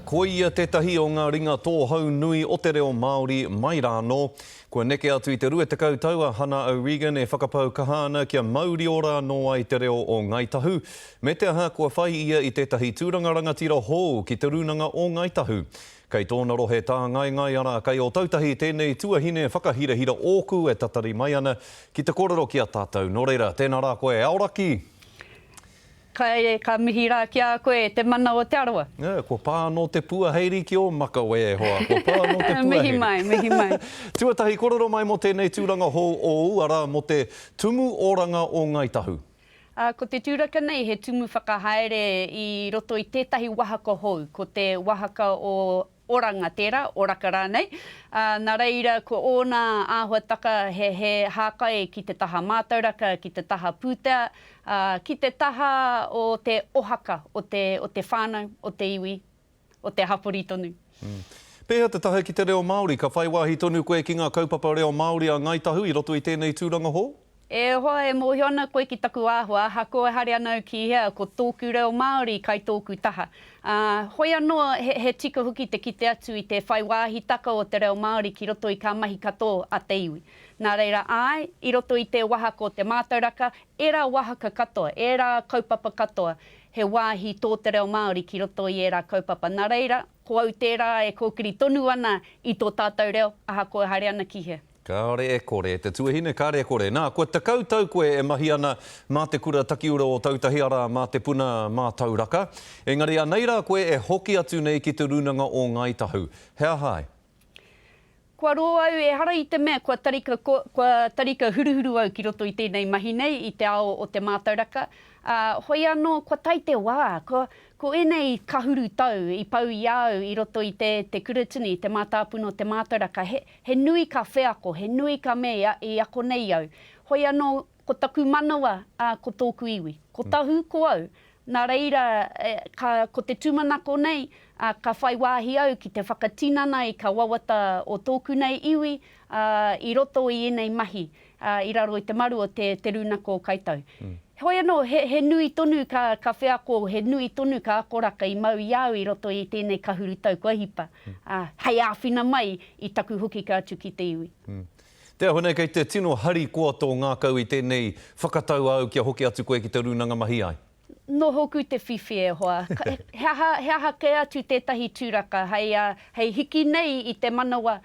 Ko ia tētahi o ngā ringa tōhou nui o te reo Māori mai rānō. Kua neke atu i te rua tekau tau a Hana O'Regan e whakapau kaha ana kia maurio rānō ai te reo o Ngāi Tahu, me te aha kua whai ia i tētahi tūranga rangatira hou ki Te Rūnanga o Ngāi Tahu. Kei tōna rohe tāngaengae arā kai Ōtautahi tēnei tuahine whakahirahira ōku e tatari mai ana ki te kōrero ki a tātou. Nō reira, tēnā rā koe e Aoraki! Kai, ka mihi ra ki a koe, e te mana o Te Arawa. Ē, kua pā anō te puaheiri ki ō makawe e hoa, kua pā anō te puaheiri. Mihi mai, mihi mai. Tuatahi, korero mai mō tēnei tūranga hou ōu, arā, mō te Tumu Oranga o Ngāi Tahu. Ā, ko te tūraka nei he tumu whakahaere i roto i tētahi wahaka hou, ko te wahaka o. Oranga tērā, oraka rānei, ā, nā reira ko ōna āhuataka he, he hākai ki te taha mātauraka, ki te taha pūtea, ā, ki te taha o te ohaka o te, o te whānau, o te iwi, o te hapori tonu. Pēhea te tahe ki te reo Māori? Ka whai wāhi tonu koe ki ngā kaupapa reo Māori a Ngāi Tahu i roto i tēnei tūranga hou? E hoa, e mōhio ana koe ki taku āhua, ahakoa ehare ana au ki hea, ko tōku reo Māori kai tōku taha. Ā, hoi anō, he, he tika hoki te kite atu i te whai wāhitaka o te reo Māori ki roto i kā mahi katō a te iwi. Nā reira, āe, i roto i tē wahaka o te mātauraka, ērā wahaka katoa, ērā kaupapa katoa, he wāhi tō te reo Māori ki roto i ērā kaupapa. Nā reira, ko au tērā e kōkiri tonu ana i tō tātou reo, ahakoa ehare ana ki hea. Kāore e kore, te tuahine kāre e kore. Nā, kua tekau tau koe e mahi ana mā te Kura Takiura o Tautahi, arā, mā te puna mātauraka. Engari anei rā koe e hoki atu nei ki Te Rūnanga o Ngāi Tahu. He aha ai? Kua rō au, ehara i te mea kua tarika, kua tarika huruhuru au ki roto i tēnei mahi nei, i te ao o te mātauraka, ā, hoi anō, kua tae te wā, ko, ko ēnei kahuru tau i pau i a au i roto i te, te Kuratini, te Mātāpuna o te Mātauraka, he, He nui ka wheako, he nui ka me i ako nei au. Hoi anō, ko taku manawa, ā, ko tōku iwi. Ko Tahu, ko au. Nā reira, ka, ko te tūmanako nei, ā, ka whai wāhi au ki te whakatinana i kā wawata o tōku nei iwi, ā, i roto i ēnei mahi, i raro i te maru o te rūnako o Kaitau. Heoi anō, he nui tonu ka wheako, he nui tonu ka akoraka i mau i a au i roto i tēnei kahurutau kua hipa, hei āwhina mai i taku hukika atu ki te iwi. Te aha nei, kei te tino harikoa tō ngākau i tēnei whakatau āu kia hoki atu koe ki te rūnanga mahi ai? Nō hoku te whiwhi e hoa. He aha, he aha kē atu tētahi tūraka hei, hei hiki nei i te manawa,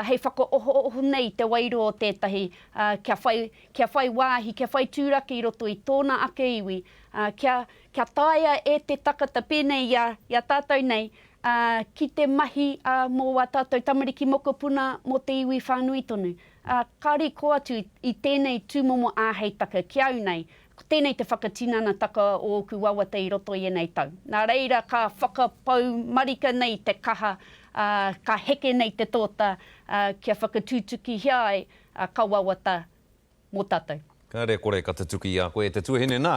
hei whakaohooho nei i te wairua o tētahi, kia whai, kia whai wāhi, kia whai tūraka i roto i tōna ake iwi, kia, kia taea e te takata, pēnei i a, i a tātou nei, ki te mahi mō wā tātou tamariki mokopuna, mō te iwi whānui tonu. Ka riko atu i tēnei tūmomo āheitaka ki au nei, Ko tēnei te whakatinanataka o ōku wawata i roto i ēnei tau. Nā reira ka whakapau marika nei te kaha, ā, ka heke nei te tōta, ā, kia whakatutukihia ai, ā, ka wawata mō tātou. Kāre e kore ka tutuki i a koe e te tuahine nā.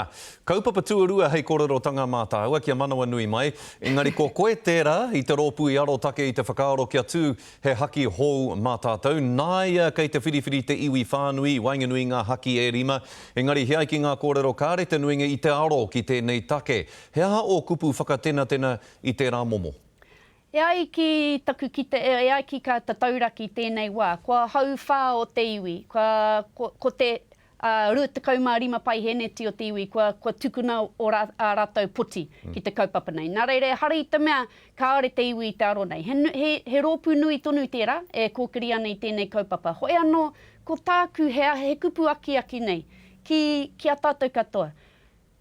Kaupapa tuarua hei kōrerotanga mā tāua kia manawanui mai, engari ko koe tērā i te rōpū i arotake i te whakaaro kia tū He haki hou mā tātou. Nāia kei te whiriwhiri te iwi whānui i waenganui i ngā haki e rima. Engari he ai ki ngā kōrero kāre te nuinga i te aro ki tēnei take. He aha ō kupu whakatenatena i tērā momo? E ai ki taku kite, e ai ki kā tatauraki tēnei wā, kua hauwhā o te iwi, kua, ko te. Ā, 25 paihēneti o te iwi kua, kua tukuna o rā, ā rātou poti ki te kaupapa nei. Nā reira, ehara i te mea kāore te iwi i te aro nei. He, he, he rōpū nui tonu tērā e kōkiri ana i tēnei kaupapa. Hoi anō, ko tāku he, he kupu akiaki nei ki, ki a tātou katoa.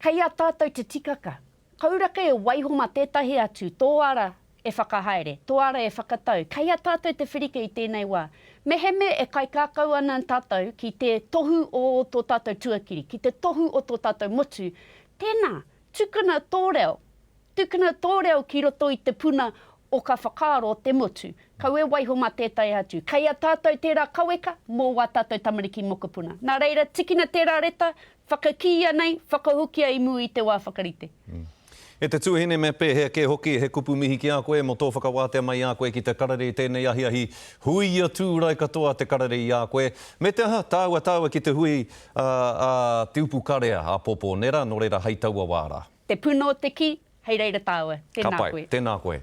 Kei a tātou te tikaka, Koura kē waiho mā tētahi atu, tō ara e whakahaere, tō ara e whakatau, kei a tātou te wherike i tēnei wā. Mehemē e kaikākau ana tātou ki te tohu o tō tātou tuakiri, ki te tohu o tō tātou motu, tēnā, tukuna tō reo, tukuna tō reo ki roto i te puna o ka whakaaro o te motu, kaua e waiho mā tētahi atu. Kei a tātou tērā kaweka mō wā tātou tamariki mokopuna. Nā reira, tikina tērā reta, Whakakīia nei, whakahokia i mua i te wā whakarite. E te Tuahine me pēhea kē hoki, he kupu mihi ki a koe mō tō whakawātea mai i a koe ki te karere i tēnei ahiahi, hui ia tūrai katoa te karere i a koe, me te aha, tāua tāua ki te hui a, a Te Upukarea, a Pōpō Nera, nō reira hei taua wā rā. Te puna o te kī, hei reira tāua. Tēnā koe. Ka pai, tēnā koe.